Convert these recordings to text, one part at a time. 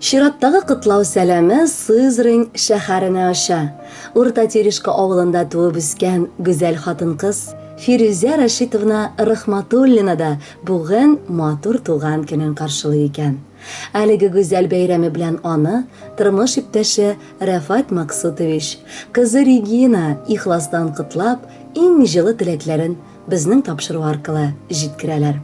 Чираттагы котлау сәламе Сызрань шәһәренә оча. Урта Тирешка авылында туып үскән гүзәл хатын-кыз Фирүзә Рәшитовна Рахматуллина да бүген матур туган көнен каршылый икән. Әлеге гүзәл бәйрәме белән аны тормыш иптәше Рәфат Максутович, кызы Регина ихластан котлап, иң җылы теләкләрен безнең тапшыру аркылы җиткерәләр.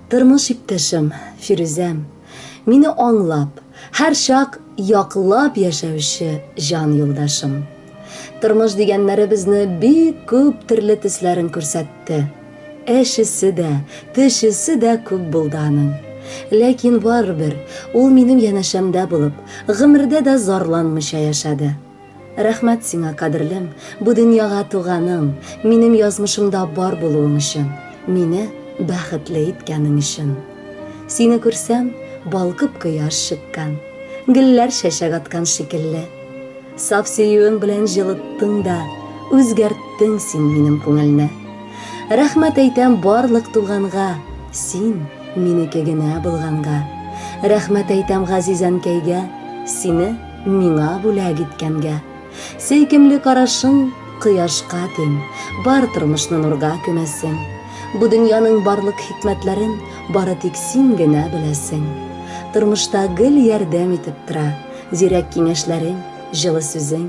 Тормыш иптәшем, Фирүзәм, мине аңлап, һәрчак яклап яшәүче җан юлдашым. Тормыш дигәннәре безне бик күп төрле төсләрен күрсәтте. Әчесе дә, төчесе дә күп булды аның. Ләкин барыбер ул минем янәшәмдә булып, гомердә дә зарланмыйча яшәде. Рәхмәт сиңа, кадерлем, бу дөньяга туганың, минем язмышымда бар булуың өчен, мине бәхетле иткәнең өчен. Сине күрсәм, балкып кояш чыккан, гөлләр чәчәк аткан шикелле. Саф сөюең белән җылыттың да, үзгәрттең син минем күңелне. Рәхмәт әйтәм барлык туганга, син минеке генә булганга. Рәхмәт әйтәм газиз әнкәйгә, сине Миңа бүләк иткәнгә. Сөйкемле карашың кояшка тиң, бар тормышны нурга күмәсең. Бу дөньяның барлык хикмәтләрен бары тик син генә беләсең. Тормышта гел ярдәм итеп тора, зирәк киңәшләрең, җылы сүзең.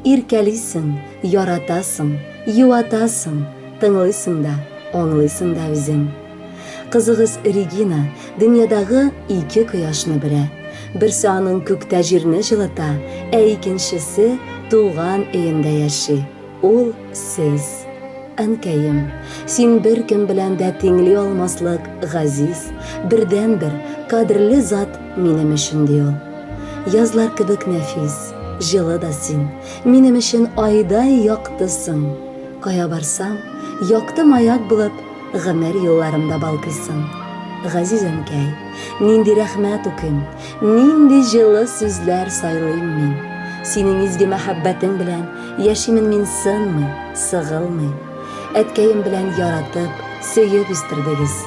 Иркәлисең, яратасың, юатасың, тыңлыйсың да, аңлыйсың да үзең. Кызыгыз Регина дөньядагы ике кояшны бирә. Берсе аның күктә җирне җылыта, ә икенчесе туган өендә яши. Ул сез. Әнкәем, син беркем белән дә тиңли алмаслык газиз, бердәнбер кадерле зат минем өчен, ди ул. Язлар кебек нәфис, җылы да син, минем өчен айдай яктысың. Кая барсам, якты маяк булып, Гомер юлларымда балкыйсың, газиз әнкәй, нинди рәхмәт үким, нинди җылы сүзләр сайлыйм мин. Синең изге мәхәббәтең белән яшимен мин сынмый, сыгылмый. Әткәем белән яратып, сөеп үстердегез.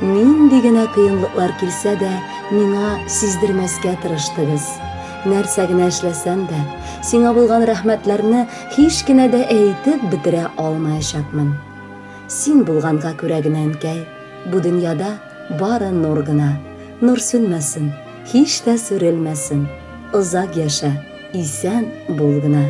Нинди генә кыенлыклар килсә дә, миңа сиздермәскә тырыштыгыз. Нәрсә генә эшләсәм дә, сиңа булган рәхмәтләрне һич кенә дә әйтеп бетерә алмаячакмын. Син булганга күрә генә, әнкәй, Бу дөньяда бары нур гына. Нур сүнмәсен, һич тә сүрелмәсен, Озак яшә, исән бул гына.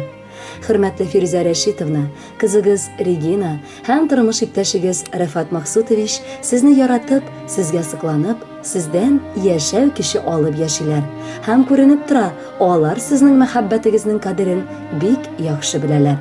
Хөрмәтле Фирүзә Рәшитовна, кызыгыз Регина һәм тормыш иптәшегез Рәфат Максутович сезне яратып, сезгә сокланып, сездән яшәү көче алып яшиләр. Һәм күренеп тора, алар сезнең мәхәббәтегезнең кадерен бик яхшы беләләр.